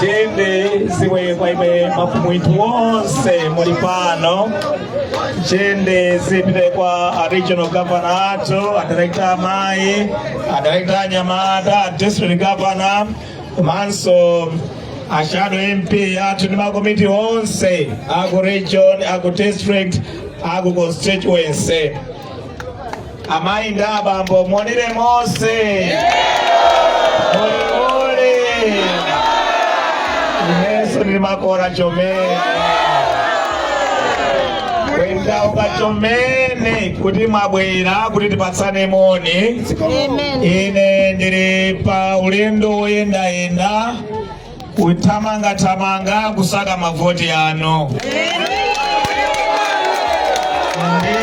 jenda ziwe kwa imwe mafumu yithu onse muli pano jenda zipite kwa a regional governor athu a director amayi a director anyamata a district governor komanso a shadow mp athu ndi makomiti onse aku region aku district aku constituency amayi ndi abambo monire mose muli uli nase tili makora chomene ndawonga chomene kuti mwabwera kuti tipatsane moni ine ndili pa ulendo woyendayenda kuthamangathamanga kusaka mavoti anu ndiye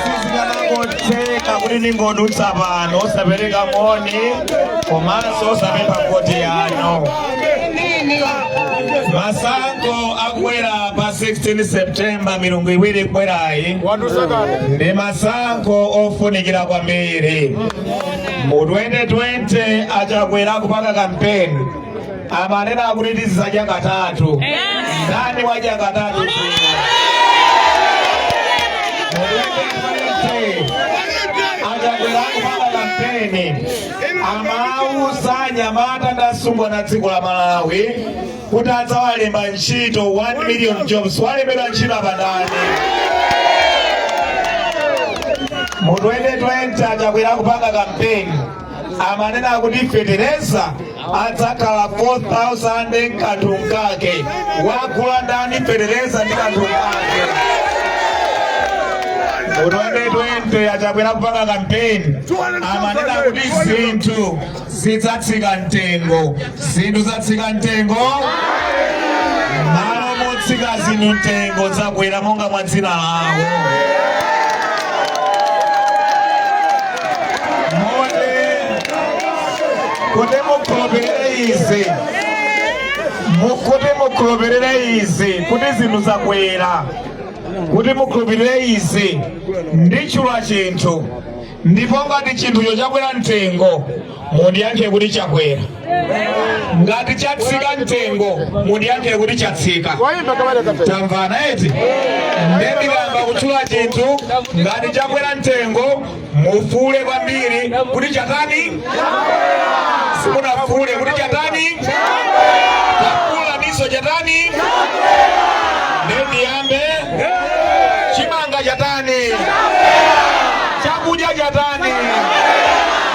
sizikanangotheka kuti ndingodutsa pano osapereka moni komanso osapempha voti yanu masankho akubwera pa 16 septemba milungu iwiri ikubwerayi ndi masankho ofunikira kwambiri mu 2020 a Chakwera akupanga kampeni amanena kuti tizidzadya katatu ndani wadya katatu a Chakwera akupanga kampeni amauza anyamata ndi asungwana dziko la Malawi kuti adzawalemba ntchito 1 million jobs walembedwa ntchito apa ndani mu 2020 a Chakwera akupanga kampeni amanena kuti fetereza adzakhala 4000 nkanthu nkake wagula ndani fetereza ndi kanthu nkake mu 2020 a Chakwera akupanga kampeni amanena kuti zinthu zidzatsika mtengo zinthu zatsika mtengo m'malo motsika zinthu mtengo zakwera monga mwa dzina lawo kuti mukhulupirire izi kuti mukhulupirire izi kuti zinthu zakwera kuti mukhulupirire izi nditchula chinthu ndipo ngati chinthucho chakwera mtengo mundiyankhe kuti chakwera ngati chatsika mtengo mundiyankhe kuti chatsika tamvana eti nde ndiyamba kutchula chinthu ngati chakwera mtengo mufuule kwambiri kuti chatani simunafuule kuti chatani takuwaninso chatani nde ndiyambe chimanga chatani chakudya chatani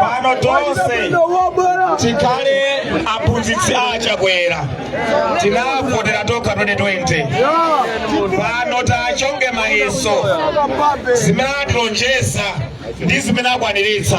pano tonse tikhale aphunzitsi a chakwera tinavotera tokha 2020 pano tachonge mayeso zimene atilonjeza ndi zimene akwaniritsa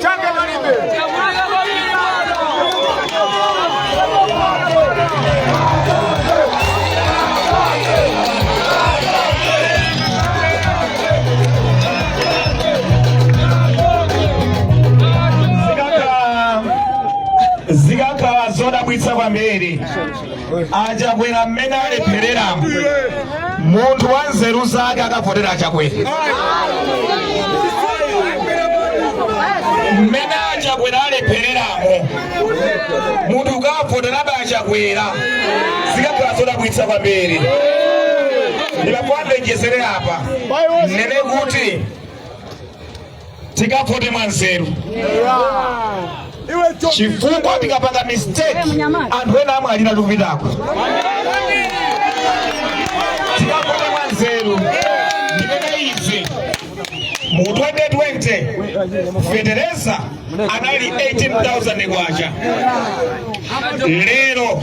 palibe zikakhala zodabwitsa kwambiri achakwera mmene alephereramo munthu wa nzeru zake akavotera achakwera mmene achakwera alephereramo munthu ukavoterabe achakwera zikakhala zodabwitsa kwambiri ndipo ndibwerezere apa ndinene kuti tikavote mwanzeru chifukwa tikapanga mistake anthu ena amwalira tikupitako tikavote mwanzeru ndikunena izi mu 2020 fetereza anali 18000 kwacha lero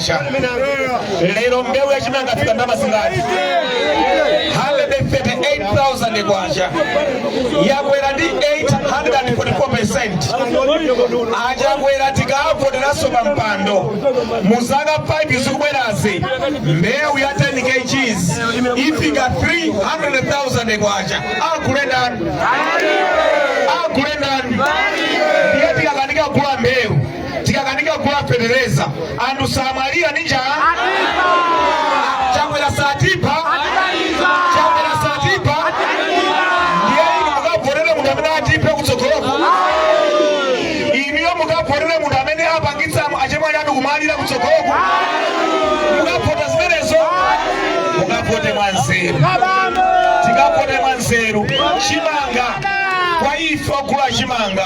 lero mbewu ya chimanga yafika ndalama zingati 138,000 kwacha yakwera ndi 844% achakwera tikavoteranso pa mpando mu zaka 5 zikubwerazi mbewu ya 10 kgs ifika 300,000 kwacha agule ndani agule ndani ndiye tikakanika kugula mbewu tikakanika kugula fetereza anthu samwalira ndi njala chakwera satipha chakwera satipha ndiye inu mukavotere munthu amene atiphe kutsogoloko inuyo mukavotere munthu amene apangitsa achemwali anu kumwalira kutsogoloko mukavota zimenezo mukavote mwa nzeru tikavote mwa nzeru chimanga kwa ife ogula chimanga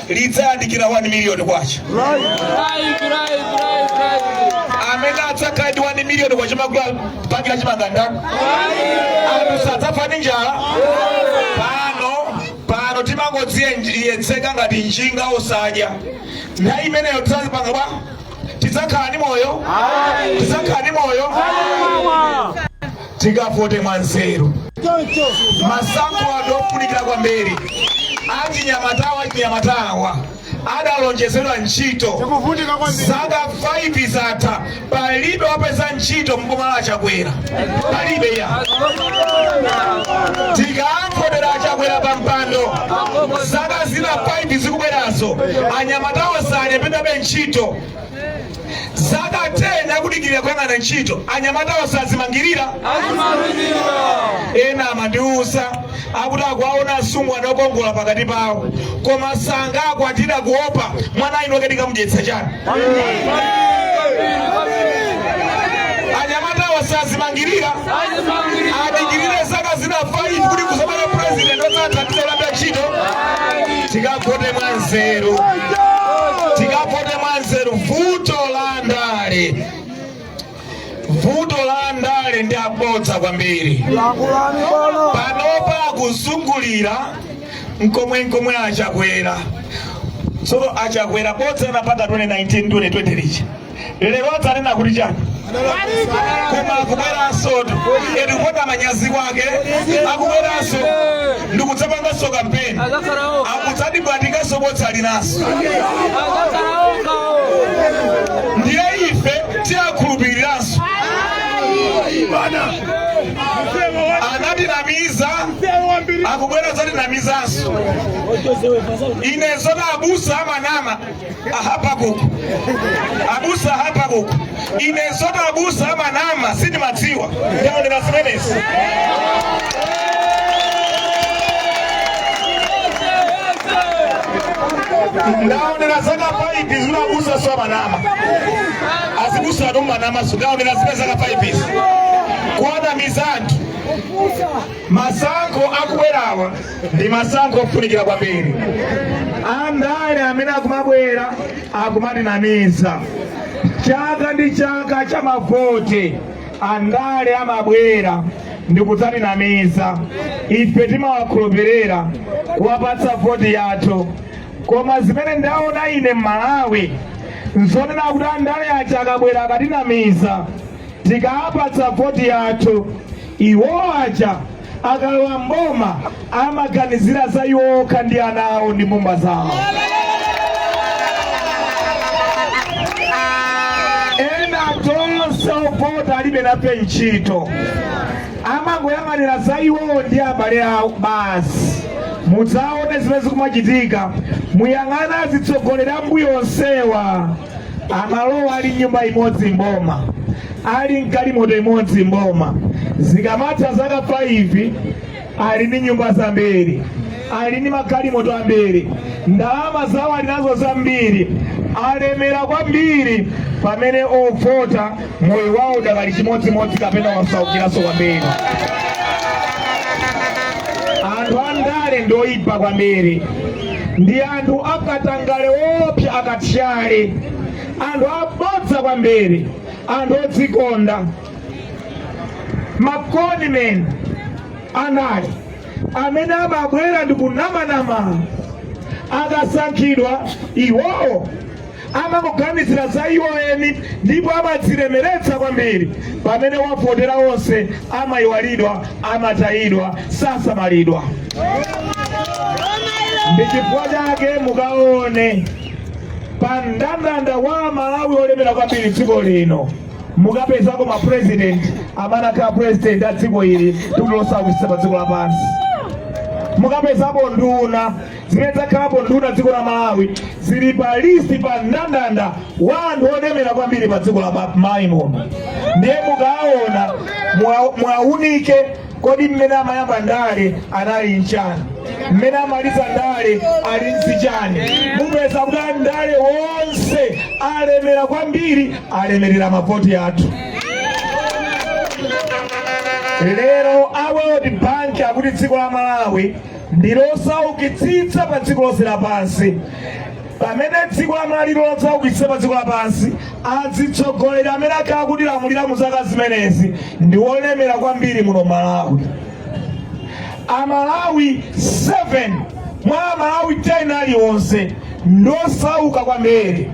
lidzayandikira 1 miliyoni kwacha amene adzakhala ndi 1 miliyoni kwacha wogula bagi la chimanga ndani anthu sadzafa ndi njala pano pano timangodziyedzeka ngati njinga osadya nthawi imeneyo tizazipanga bwa tidzakhala ndi moyo tidzakhala ndi moyo tikavote mwanzeru masankho ano ndi ofunikira kwambiri achinyamatawa achinyamatawa adalonjezedwa ntchito zaka 5 zatha palibe wapeza ntchito mboma la chakwera palibe eya tikawavotera achakwera pa mpando zaka zina 5 zikubwerazo anyamatawa salembedwabe ntchito zaka 10 akudikirira kuyang'ana ntchito anyamatawa sazimangirira ena amandiuza akuti akuwaona asungwana okongola pakati pawo koma sangakwatira kuopa mwana winoke tikamudyetsa chani anyamatawa sazimangirira adikirire zaka zina 5 kuti kuzamana president osatha tiolanda ntchito tikavote mwa nzeru tikavote mwa nzeru vuto la ndale la andale ndi abodza kwambiri panopa akuzungulira nkomwe nkomwe achakwera so achakwera bodza anapanga 2019 2020 lija lero adzanena kuti chani koma akubweransotu eti kupanda manyazi kwake akubweranso ndikudzapanganso kampeni akudzatibwatikanso bodza linaso tiakhulupiriranso anatinamiza akubwera kudzatinamizanso ine zona abusa amanama ahabakuku abusa ahabakuku ine zona abusa amanama sindimadziwa ndaonera zimenezi ndaonera zaka 5 zimenezi abusa so amanama azibusatu amanama so ndaonera zimene zaka 5 izi kuwanamiza anthu masankho akubwerawa ndi masankho ofunikira kwambiri andale amene akumabwera akumatinamiza chaka ndi chaka cha mavoti andale amabwera ndikudzatinamiza ife timawakhulupirira kuwapatsa voti yathu koma zimene ndaona ine m'malawi nzonena kuti andale aja akabwera akatinamiza tikawapatsa voti yathu iwo aja akalowa mboma amaganizira za iwo okha ndi ana awo ndi mbumba zawo ena tonse ovota alibe nafe ntchito amangoyang'anira za iwowo ndi abale awo basi mudzaone zimene zikumachitika muyang'ane azitsogoleri ambuyo onsewa amalowa ali nyumba imodzi mboma ali mgalimoto imodzi mboma zikamatha zaka 5 ali ndi nyumba zambiri ali ndi magalimoto ambiri ndalama zawo ali nazo zambiri alemera kwambiri pamene ovota moyo wawo udakali chimodzimodzi kapena asaukiranso kwambiri anthu andale ndoyipa kwambiri ndi anthu akatangale woopsa akathyali anthu abodza kwambiri anthu odzikonda ma con men amene amabwera ndi kunamanama akasankhidwa iwowo amangoganizira za iwo eni ndipo amadzilemeretsa kwambiri pamene owavotera onse amayiwalidwa amatayidwa sasamalidwa ndi chifukwa chake mukaone pa mndandanda wa amalawi olemera kwambiri dziko lino mukapezako ma president amene akhala president a dziko ili dziko losaukitsitsa pa dziko lapansi mukapezapo nduna zimene zakhalapo nduna dziko la malawi zili pa listi pa mndandanda wa anthu olemera kwambiri pa dziko la malawi muno ndiye mukaona muwaunike kodi mmene amayamba ndale anali nchani mmene amamaliza ndale ali ndi chani mupeza kuti andale wonse alemera kwambiri alemerera mavoti athu lero a world bank akuti dziko la malawi ndi losaukitsitsa pa dziko lonse lapansi. Pamene dziko la Malawi losaukitsitsa pa dziko lapansi, adzitsogoleri amene akhala akutilamulira mu zaka zimenezi ndi wolemera kwambiri muno Malawi. Amalawi 7 mwa Amalawi 10 aliwonse ndosauka kwambiri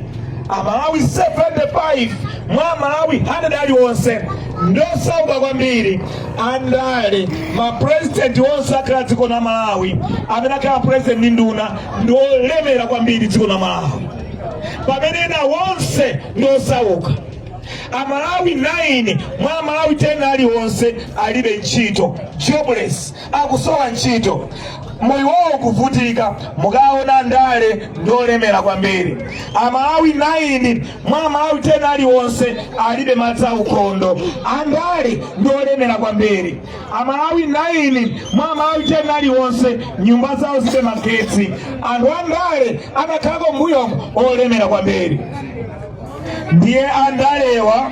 amalawi 75 mwa amalawi 100 aliwonse ndosauka kwambiri andale mapurezidenti onse akhala dziko la malawi amene akhala purezidenti ndi nduna ndi olemera kwambiri dziko la malawi pamene ena wonse ndi osauka amalawi 9 mwa amalawi 10 aliwonse alibe ntchito jobless akusowa ntchito moyo wawo kuvutika mukaona andale ndiolemera kwambiri amalawi 9 mwa amalawi 10 aliwonse alibe madzi aukhondo andale ndiolemera kwambiri amalawi 9 mwa amalawi 10 aliwonse nyumba zawo zilibe magetsi anthu andale anakhalako mbuyomo olemera kwambiri ndiye andalewa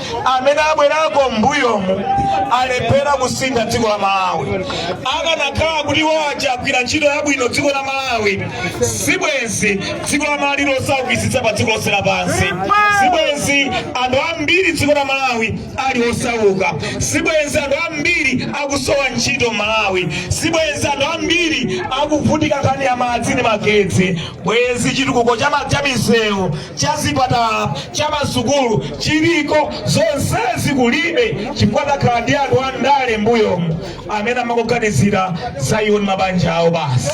amene abwerako mbuyomu alephera kusintha dziko la malawi akanakhala kuti iwo aja agwira ntchito yabwino dziko la malawi sibwenzi dziko la malawi lili losaukitsitsa pa dziko lonse lapansi sibwenzi anthu ambiri dziko la malawi ali osauka sibwenzi anthu ambiri akusowa ntchito malawi sibwenzi anthu ambiri akuvutika nkhani ya madzi ndi magetsi bwenzi chitukuko cha ma- cha misewu cha zipatala cha masukulu chiliko, zonsezi kulibe chifukwa takhala ndi anthu a ndale mbuyomu amene amangoganizira za iwo ndi mabanja awo basi.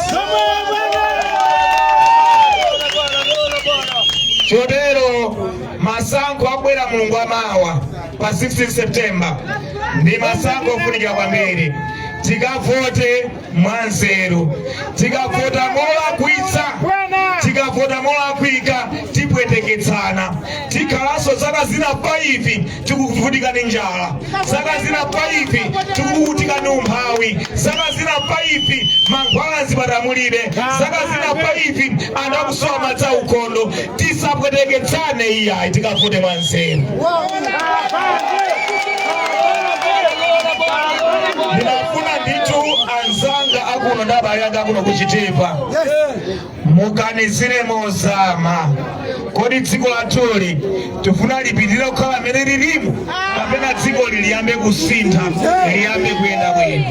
Chotero masankho akubwera mulungu wamawa pa 16 September ndi masankho ofunikira kwambiri, tikavote. mwanzeru tikavota molakwitsa tikavota molakwika tipweteketsana tikhalanso zaka zina faifi tikuvutika ndi njala zaka zina faifi tikuvutika ndi umphawi zaka zina faifi mankhwala mzipatala mulibe zaka zina faifi anthu akusowa madzi aukhondo tisapweteketsane iyayi tikavote mwa nzeru ndinafuna ndithu anzanga akuno ndi abale anga akuno kuchitipa muganizire mozama kodi dziko lathuli tifuna lipitirire kukhala mmene lilimu kapena dzikoli liyambe kusintha liyambe kuyenda bwino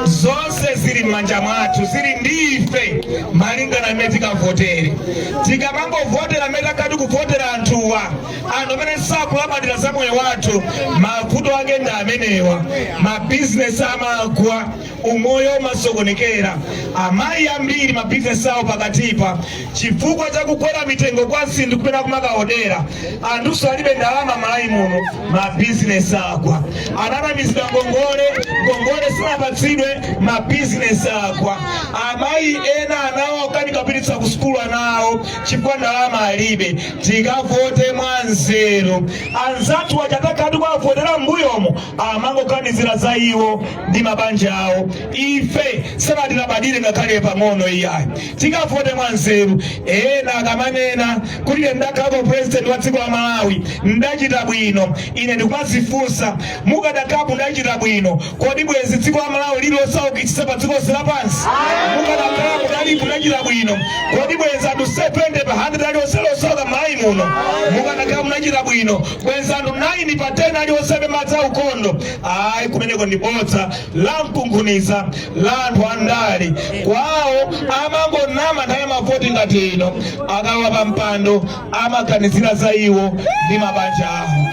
Zonse zonse zili m'manja mwathu zili ndi ife malingana mmene tikavotere tikamangovotera mmene takhala tikuvotera anthuwa anthu amene sakulabadira za moyo wathu mavuto ake ndi amenewa mabizinesi amagwa umoyo umasokonekera amayi ambiri mabizinesi awo pakatipa chifukwa cha kukwera mitengo kwa zinthu kumene akumakaodera anthuso alibe ndalama malawi muno mabizinesi agwa ananamizidwa ngongole ngongole sinapatsidwe mabizinesi agwa amayi ena anawo akanika kupititsa ku sukulu anawo chifukwa ndalama alibe tikavote mwa nzeru anzathu aja takhala tikuwavotera mbuyomo amangoganizira za iwo ndi mabanja awo ife sanatilabadire ngakhale pang'ono iyayi tikavote mwanzeru. Ena akamanena kuti ine ndakhalako president wa dziko la Malawi ndachita bwino, ine ndikumazifunsa mukadakhala kuti mudachita bwino, kodi bwezi dziko la Malawi lili losaukitsitsa pa dziko lonse lapansi? Mukadakhala kuti mudalipo mudachita bwino, kodi bwezi anthu 70 pa 100 alionse ali osauka Malawi muno? Mukadakhala kuti mudachita bwino, bwezi anthu 9 pa 10 alionse alibe madzi aukhondo? Ayi, kumeneko ndi bodza. la mkunkhuniza la anthu andale kwawo amangonama nthawi mavoti ngati ino akalowa pa mpando amaganizira za iwo ndi mabanja awo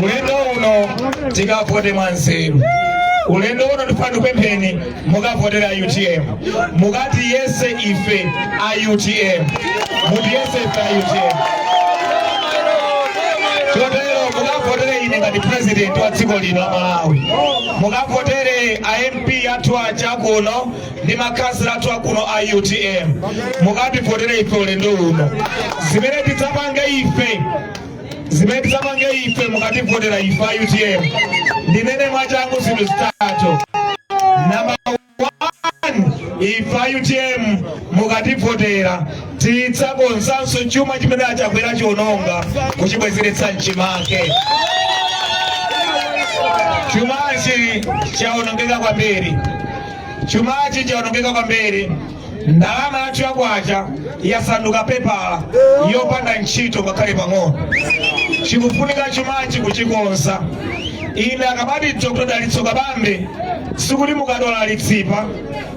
ulendo uno tikavote mwanzeru ulendo uno ndifuna ndikupempheni mukavotele a utm mukatiyese ife a utm mutiyese ife a utm chotero mukavotele ine ngati president wa dziko lino la malawi mukavotele a mp athu aja kuno ndi makhansala athu akuno a utm mukativotere ife ulendo uno zimene tidzapange ife zimene tizapange ife mukativotera ife a utm ndinene mwachangu zinthu zitatu namba 1 ife a utm mukativotera tidzakonzanso chuma chimene a chakwera achiononga kuchibwezeretsa mchimake chumachi chaonongeka kwambiri chumachi chaonongeka kwambiri ndalama yathu ya kwacha yasanduka pepala yopanda ntchito ngakhale pang'ono chikufunika chumachi kuchikonza ine akamati dr dalitso kabambe sikuti mukadwala litsipa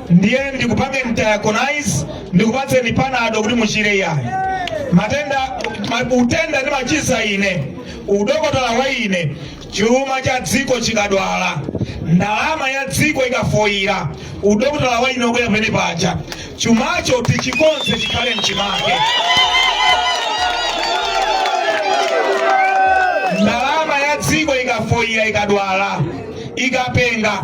ndiye ndikupangeni diagnose ndikupatseni panado kuti muchire iyayi matenda ma- utenda ndimachiza ine udokotala wa ine Chuma cha dziko chikadwala, ndalama ya dziko ikafoira, udokotala wa ine ubwera pamene paja. Chumacho tichikonze chikhale mchimake. Ndalama ya dziko ikafoira, ikadwala, ikapenga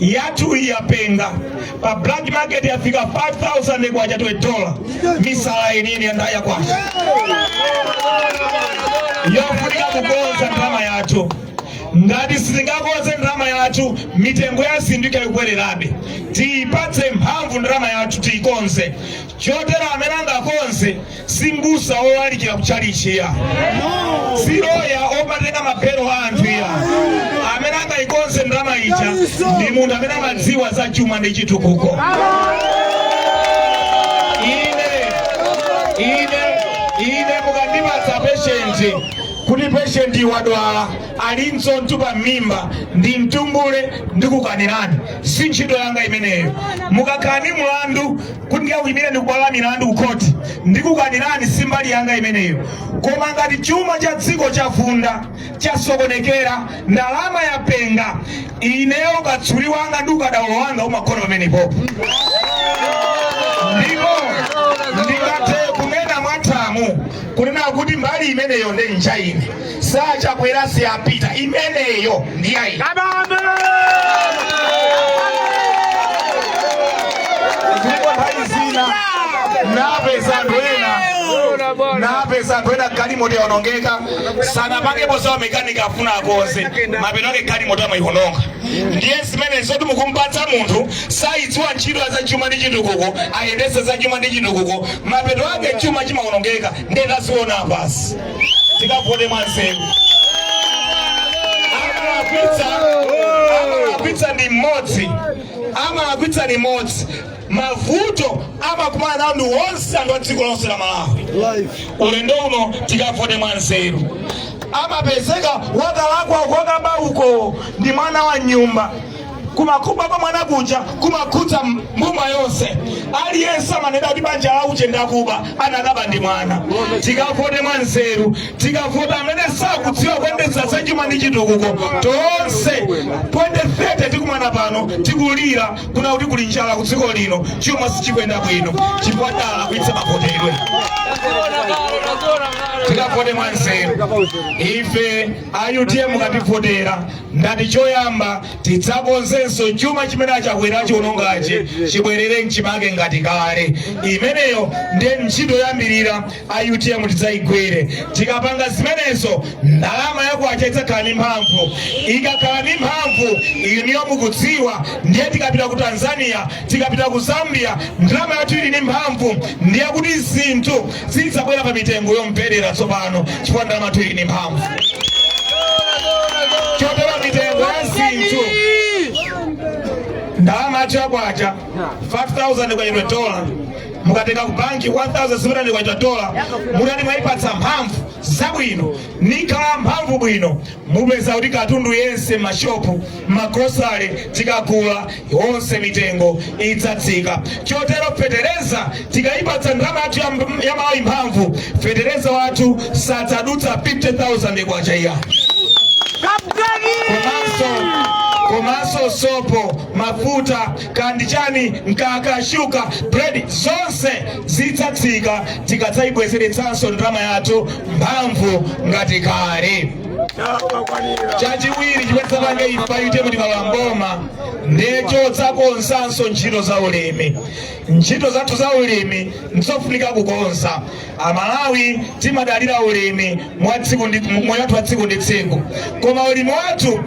yathu iyi yapenga pa black market yafika 5000 kwacha to a dollar misala yeniyeni ya ndalama ya kwacha yofunika kukonza ndalama yathu ngati sitingakonze ndalama yathu mitengo ya zinthu ikhala ikukwererabe tiyipatse mphamvu ndalama yathu tiyikonze chotero amene angakonze si mbusa wolalikira ku chalichi ya si loya omatenga mabelo a anthu ya amene angayikonze ndalama ija ndi munthu amene amadziwa za chuma ndi chitukuko ine ine ine mukandipatsa peshenti kuti peshenti wadwala ali ndi chotupa mmimba ndimtumbule ndikukanirani si ntchito yanga imeneyo mukakhala ni mlandu kuti ndikakuimireni ku bwalo la milandu ku khoti ndikukanirani si mbali yanga imeneyo koma ngati chuma cha dziko chavunda chasokonekera ndalama yapenga ineyo ukatswiri wanga ndi ukadaulo wanga umagona pamenepopo ndipo ndingathe kunena mwathamo kunena kuti mbali imeneyo nde nja ine si achakwera si a peter imeneyo ndiyayi napeza anthu ena galimoto yaonongeka sanapangepo za mekanika afuna akonze mapeto ake galimoto amaiononga ndiye zimene zoti mukumpatsa munthu sayidziwa ntchito ya za chuma ndi chitukuko ayendese za chuma ndi chitukuko mapeto ake chuma chimaonongeka ndiye taziona basi tikavote mwanzeru amalakwitsa ndi mmodzi amalakwitsa ndi mmodzi mavuto amakumana nawo ndi onse anthu a dziko lonse la malawi ulendo uno tikavote mwanzeru amapezeka wakalakwa kokaba uko ndi mwana wa nyumba koma kuba kwa mwana kuja kumakhudza mbumba yonse aliyense amanena kuti banja la uje ndakuba anakaba ndi mwana tikavote mwa nzeru tikavota amene sakudziwa kuyendetsa zachuma ndi chitukuko tonse 2030 tikumana pano tikulira kuna kuti kuli njala ku dziko lino chuma sichikuyenda bwino chifukwa tidalakwitsa mavotedwe tikavote mwa nzeru ife a utm mukativotera ndati choyamba tidzakonzenso chuma chimene achakwera achiwonongachi chibwerere mchimake ngati kale imeneyo ndiye ntchito yoyambirira a utm tidzayigwire tikapanga zimenezo ndalama yakwacha idzakhala ndi mphamvu ikakhala ndi mphamvu inuyo mukudziwa ndiye tikapita ku tanzania tikapita ku zambia ndalama yathu ili ndi mphamvu ndiye kuti zinthu Zidzabwera pa mitengo yomverera tsopano, chifukwa ndalama yathu ili ndi mphamvu. Chotero mitengo ya zinthu ndalama yathu yakwacha 5000 kwacha to a dollar mukatenga ku banki 1700 kwacha to a dollar mutati mwaipatsa mphamvu zabwino nikhala mphamvu bwino mupeza kuti katundu yense m'mashopu, m'magrosale tikagula, yonse mitengo idzatsika. Chotero fetereza tikaipatsa ndalama yathu ya Malawi mphamvu, fetereza wathu sadzadutsa 50,000 kwacha iya komanso sopo mafuta kandichani mkaka shuga bread zonse zidzatsika tikadzayibwezeretsanso ndalama yathu mphamvu ngati kale chachiwiri chimene tizapange ife a utm tikalowa m'boma ndi chodzakonzanso ntchito za ulimi ntchito zathu za ulimi ndizofunika kukonza amalawi timadalira ulimi moyo wathu wa tsiku ndi tsiku koma ulimi wathu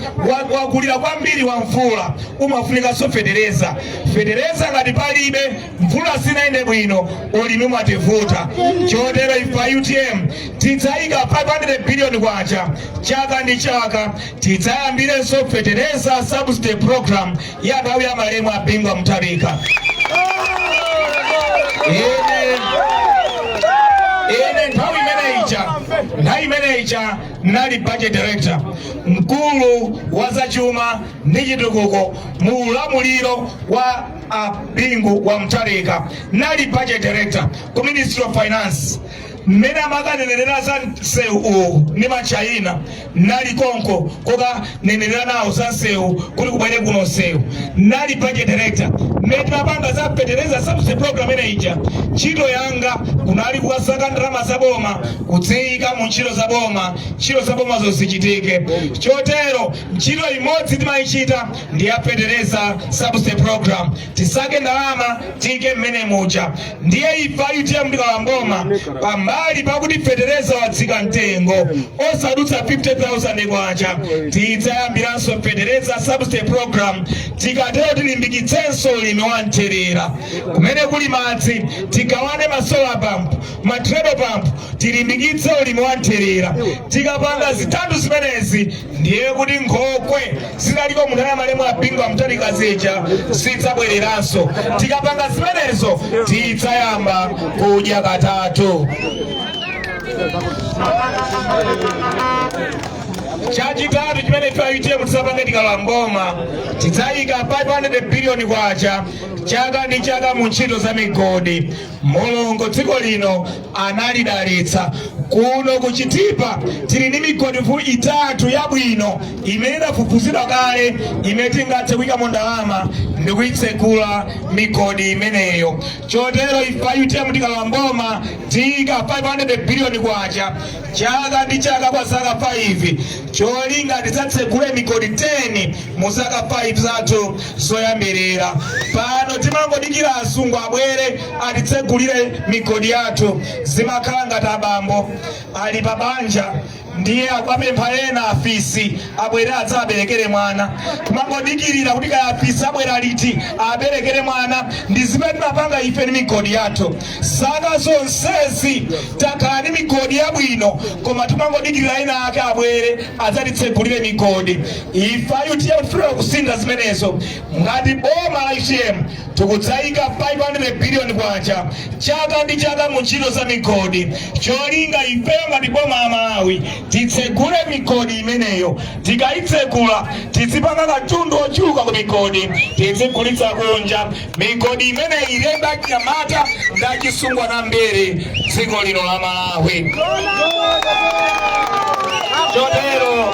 wakulira kwambiri wa mvula umafunikanso fetereza fetereza ngati palibe mvula sinaende bwino ulimi umativuta chotero ife a utm tidzayika 500 biliyoni kwacha chaka ndi chaka tidzayambiranso fetereza subsidy program ya nthawi ya malemu a bingu wa mutharika ine nthawi imene ija nali budget director mkulu wa zachuma ndi chitukuko mu ulamuliro wa a bingu wa mutharika nali budget director ku ministry of finance mmene amakanenera za msewu uwu ndi machayina nali konko kokanenera nawo za msewu kuti kubwere kuno msewu nali budget director mmene timapanga za fetereza subsidy program imene ija ntchito yanga kunali kukasaka ndalama za boma kudziyika mu ntchito za boma ntchito za boma zizichitike chotero ntchito imodzi timayichita ndi ya fetereza subsidy program tisake ndalama tiyike mmene muja ndiye ife a utm tikalowa mboma pambali pakuti fetereza watsika mtengo osadutsa 50000 kwacha tidzayambiranso fetereza subsidy program tikatero tilimbikitsenso ulimi wa mthirira kumene kuli madzi tigawane ma solar pump ma treadle pump tilimbikitse ulimi wa mthirira tikapanga zitatu zimenezi ndiye kuti nkhokwe zinaliko mu nthawi ya malemu a bingu wa mutharika zija zidzabwereranso tikapanga zimenezo tidzayamba kudya katatu chachitatu chimene ife a utm tidzapange tikalowa mboma tidzayika 500 biliyoni kwacha chaka ndi chaka mu ntchito za migodi mulungu dziko lino analidalitsa kuno ku chitipa tili ndi migodi itatu yabwino imene idafufuzidwa kale imene tingathe kuyikamo ndalama ndi kuyitsekula migodi imeneyo chotero ife a utm tikalowa mboma tiyika 500 biliyoni kwacha chaka ndi chaka kwa zaka 5 cholinga tidzatsegule migodi 10 mu zaka 5 zathu zoyambirira pano timangodikira azungu abwere atitsegulire migodi yathu zimakhala ngati abambo ali pa banja ndiye akuwapempha ena afisi abwere adzawaberekere mwana timangodikirira kuti kaya afisi abwera liti aberekere mwana ndi zimene timapanga ife ndi migodi yathu Zaka zonsezi takhala ndi migodi yabwino koma timangodikirira ena ake abwere adzatitsegulire migodi. Ife a utm tifuna kusintha zimenezo. Ngati boma la utm tikudzaika 500 billion kwacha chaka ndi chaka mu ntchito za migodi cholinga ifeyo ngati boma la Malawi titsegule migodi imeneyo. Tikaitsegula tizipanga katundu wochuluka ku migodi tidzigulitsa kunja. migodi imeneyi ilemba achinyamata ndi achitsikana ambiri dziko lino la Malawi. Chotero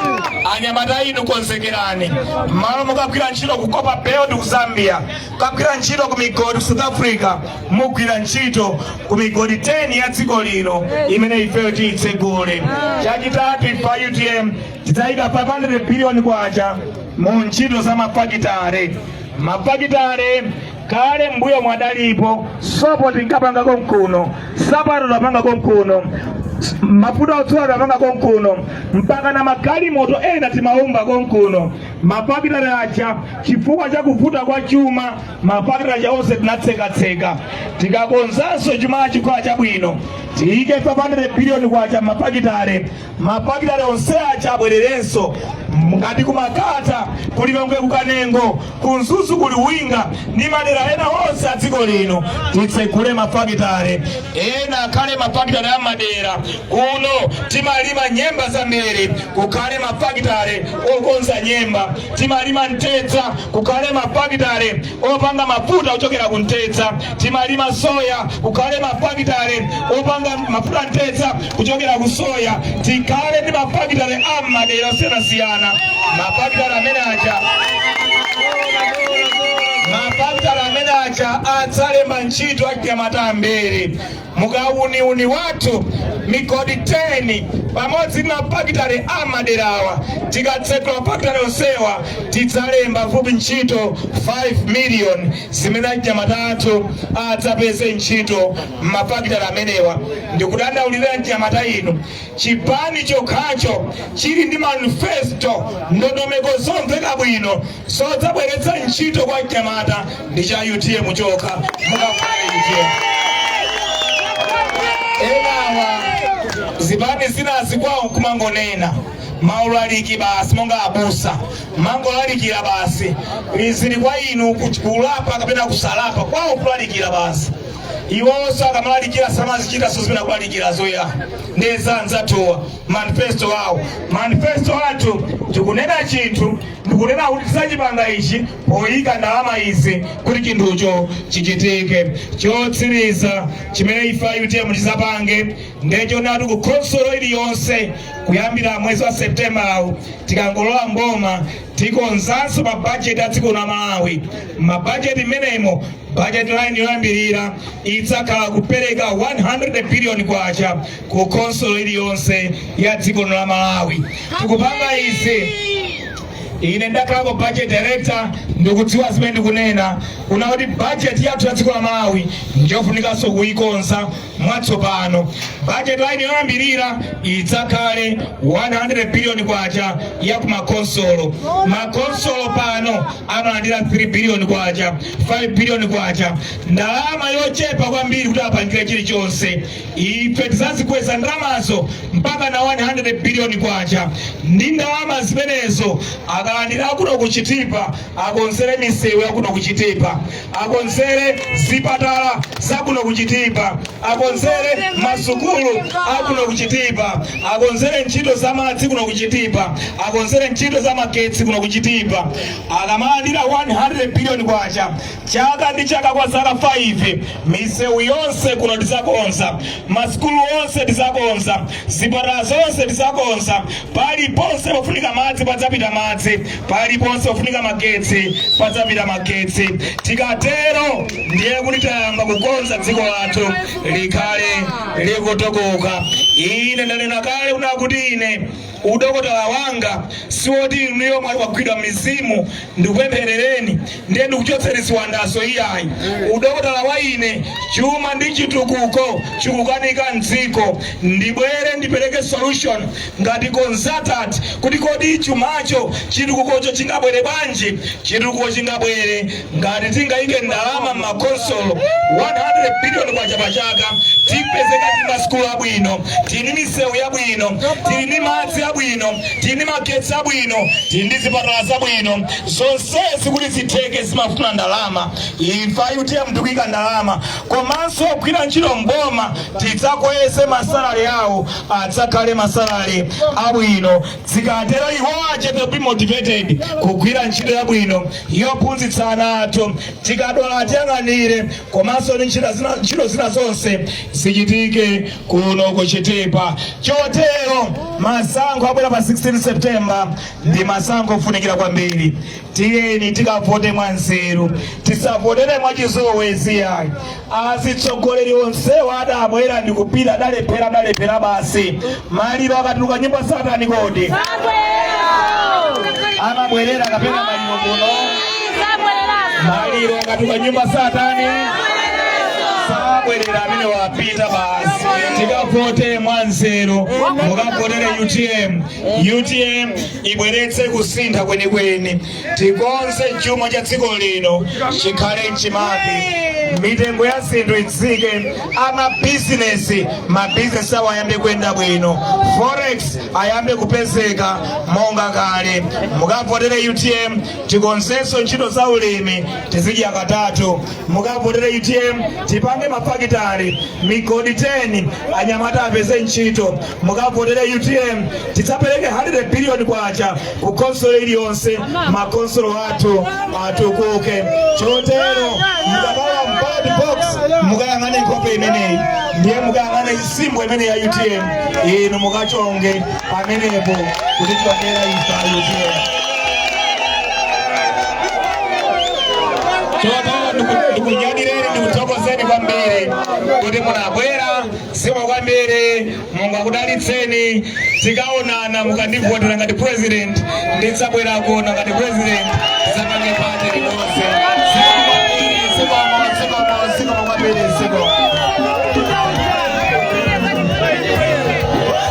anyamata inu konzekerani, mmalo mokagwira ntchito ku Copper Belt ku Zambia, kukagwira ntchito ku migodi ku South Africa, mugwira ntchito ku migodi 10 ya dziko lino imene ifeyo tiyitsegule. Chachitatu ife a UTM tidzayika 500 biliyoni kwacha mu ntchito za mafakitale mafakitale kale mbuyo mwathu analipo sopo tinkapanga konkuno nsapato tinkapanga konkuno mafuta odzola tinkapanga konkuno mpaka na magalimoto ena timaumba konkuno mafakitale aja chifukwa cha kuvuta kwa chuma mafakitale aja onse tinatsekatseka tikakonzanso chuma chikhala chabwino tiyike 500 biliyoni kwacha m'mafakitale mafakitale onse aja abwererenso ngati ku Makata ku Lilongwe ku Kanengo ku Mzuzu ku Luwinga ndi madera ena onse a dziko lino titsegule mafakitale ena akhale mafakitale a madera kuno timalima nyemba zambiri kukhale mafakitale okonza nyemba timalima mtedza kukhale mafakitale opanga mafuta ochokera ku mtedza timalima soya kukhale mafakitale opanga mafuta mtedza kuchokera ku soya tikhale ndi mafakitale a m'madera osiyanasiyana mafakitale amene aja mafakitale amene aja adzalemba ntchito achinyamata ambiri mukawuniwuni wathu migodi 10 pamodzi ndi mafakitale a maderawa tikatsekula mafakitale onsewa tidzalemba fupi ntchito 5 miliyoni zimene achinyamata athu adzapeze ntchito m'mafakitale amenewa ndikudandaulira achinyamata inu chipani chokhacho chili ndi manifesto ndondomeko zomveka bwino zodzabweretsa ntchito kwa achinyamata ndi cha utm chokha mukafuna utm enawa zipani zinazi kwawo kumangonena maulaliki basi monga abusa kumangolalikira basi zili kwa inu kulapa kapena kusalapa kwawo kulalikira basi iwonso akamalalikira samazichitanso zimene akulalikirazo ya nde za anzathuwa manifesto awo manifesto athu tikunena chinthu ndikunena kuti tidzachipanga ichi poyika ndalama izi kuti chinthucho chichitike chotsiriza chimene ife utm tidzapange nde chonena kuti ku khonsolo iliyonse kuyambira mwezi wa septembawu tikangolowa mboma tikonzanso mabajeti a dziko la malawi mabajeti imenemo Budget line yoyambirira idzakhala kupereka 100 billion kwacha ku khonsolo iliyonse ya dziko la Malawi. Tikupanga izi ine ndakhalako budget director ndikudziwa zimene ndikunena kunena kuti budget yathu ya dziko la Malawi ndiyofunikanso kuyikonza mwatsopano bajeti line yoyambirira idzakhale 100 biliyoni kwacha ya kumakonsolo makonsolo pano amalandira 3 biliyoni kwacha 5 biliyoni kwacha ndalama yochepa kwambiri kuti apangire chilichonse ife tizazikweza ndalamazo mpaka na 100 biliyoni kwacha ndi ndalama zimenezo akalandira akuno ku Chitipa akonzere misewu yakuno ku Chitipa akonzere zipatala zakuno ku Chitipa akonzere masukulu akuno ku Chitipa akonzere ntchito za madzi kuno ku Chitipa akonzere ntchito za magetsi kuno ku Chitipa akamalandira 100 biliyoni kwacha chaka ndi chaka kwa zaka 5 misewu yonse kuno tizakonza masukulu onse tizakonza zipatala zonse tizakonza paliponse pofunika madzi padzapita madzi Paliponse pofunika magetsi padzapita magetsi. Tikatero ndiye kuti tayamba kukonza dziko lathu likhale likutukuka. Ine ndanena kale kunena kuti ine udokotala wanga siwoti inuyo mwali wagwidwa mizimu ndikupempherereni ndiye ndikuchotseni ziwandazo iyayi udokotala wa ine chuma ndi chitukuko chikukanika mdziko ndibwere ndipereke solution ngati consultant kuti kodi chumacho chitukukocho chingabwere bwanji chitukuko chingabwere ngati tingayike ndalama m'makonsolo 100 billion kwacha pa chaka tipezeka tili ndi masukulu abwino tili ndi misewu yabwino tili ndi madzi abwino tili ndi magetsi abwino tili ndi zipatala zabwino zonsezi kuti zitheke zimafuna ndalama ife UTM tikuyika ndalama komanso ogwira ntchito mboma tidzakweze masalare awo adzakhale masalare abwino zikatero iwo adzakhale to be motivated kugwira ntchito yabwino yophunzitsa ana athu tikadwala atiyang'anire komanso ndi ntchito zina zonse zichitike kuno ku Chitipa chotero masankho abwera pa 16 september ndi masankho ofunikira kwambiri tiyeni tikavote mwanzeru tisavotere mwachizolowezi ayi azitsogoleri onsewa adabwera ndikupita adalephera adalephera basi maliro akatuluka nyumba satani kodi amabwerera kapena maliro kuno maliro akatuluka nyumba satani sabwerera amene wapita basi tikavote mwanzeru mukavotere UTM utm ibweretse kusintha kwenikweni tikonze chuma cha dziko lino chikhale mchimake mitengo ya zinthu itsike a mabizinesi mabizinesi awo ayambe kuyenda bwino forex ayambe kupezeka monga kale mukavotere utm tikonzenso ntchito za ulimi tizidya katatu mukavotere utm tipange mafakitari migodi 10 anyamata apeze ntchito mukavotere utm tidzapereke 100 biliyoni kwacha ku konsolo iliyonse makonsolo athu atukuke chotero mukalowa mu ballot box mukayang'ane nkhope imeneyi ndiye mukayang'ane symbol imeneyi ya utm inu mukachonge pamenepo kutivotera ife a utm chotero ndiku- ndikunyadileni ndikuthokozeni kwambiri kuti munabwera zikomo kwambiri mulungu akudalitseni tikaonana mukandivotera ngati president ndidzabwera kuona ngati president tizapange pate limodzi zikomo kwambiri zikomo zikomo zikomo kwambiri zikomo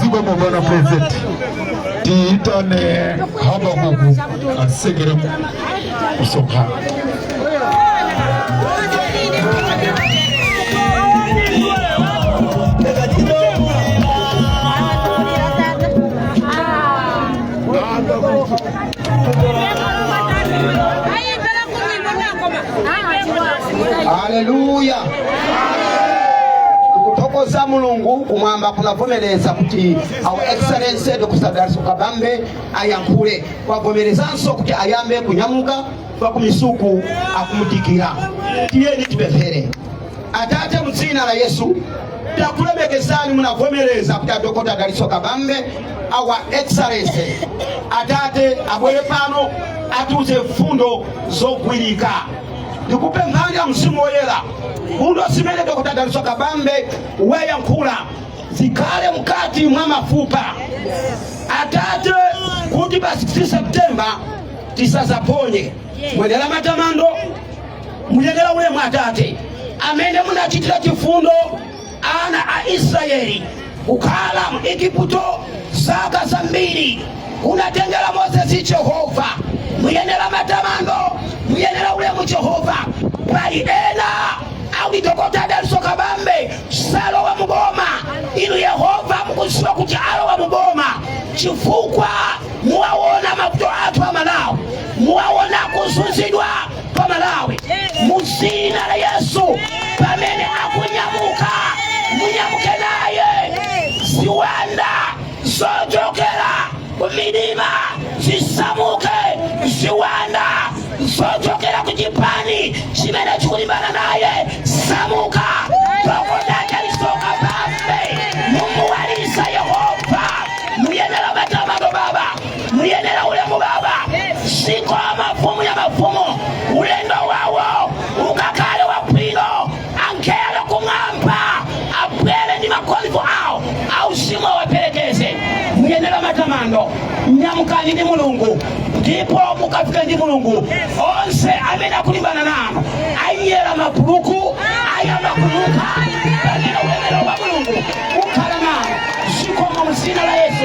zikomo bwana president tiyitane habakuku atsekere msonkhano haleluya tikuthokoza mulungu kumwamba kunavomereza kuti our excellency dr dalitso kabambe ayankhule kwavomerezanso kuti ayambe kunyamuka kwa kumisuku akumudikira tiyeni tipemphere Atate, mu dzina la Yesu takulemekezani, munavomereza kuti adokota Dalitso Kabambe our excellency atate abwere pano atiuze mfundo zogwirika. Ndikupemphani a Mzimu Woyera, mfundo zimene dokota Dalitso Kabambe wayankhula zikhale mkati mwa mafupa atate, kuti pa 16 September tisazaphonye. Muyenera matamando muyenera ulemu atate amene munachitira chifundo ana a israeli kukhala mu igupto zaka zambiri kunatengera mozesi jehova muyenera matamando muyenera ulemu jehova pali ena akuti dokota adalitso kabambe salowa muboma inu yehova mukuziwa kuti alowa muboma chifukwa muwaona mavuto athu amalawi muwaona kuzunzidwa pa malawi mu dzina la yesu pamene akunyamuka munyamuke naye ziwanda zochokera kumidima zisamuke ziwanda zochokera ku chipani chimene chikulimbana naye samuka Dokotala Dalitso Kabambe mumuwalisa yehova muyenera matamano baba muyenera ulemu baba zikomo mfumu ya mafumu ulendo wawo ukakhale wabwino angelo kumwamba abwere ndi makholipo awo auzimu awaperekeze muyenera matamando nyamukani ndi mulungu ndipo mukafika ndi mulungu onse amene akulimbana nanu anyera mabuluku ayamba kuluka pamene ulemerero wa mulungu ukhala nanu zikomo mzina la yesu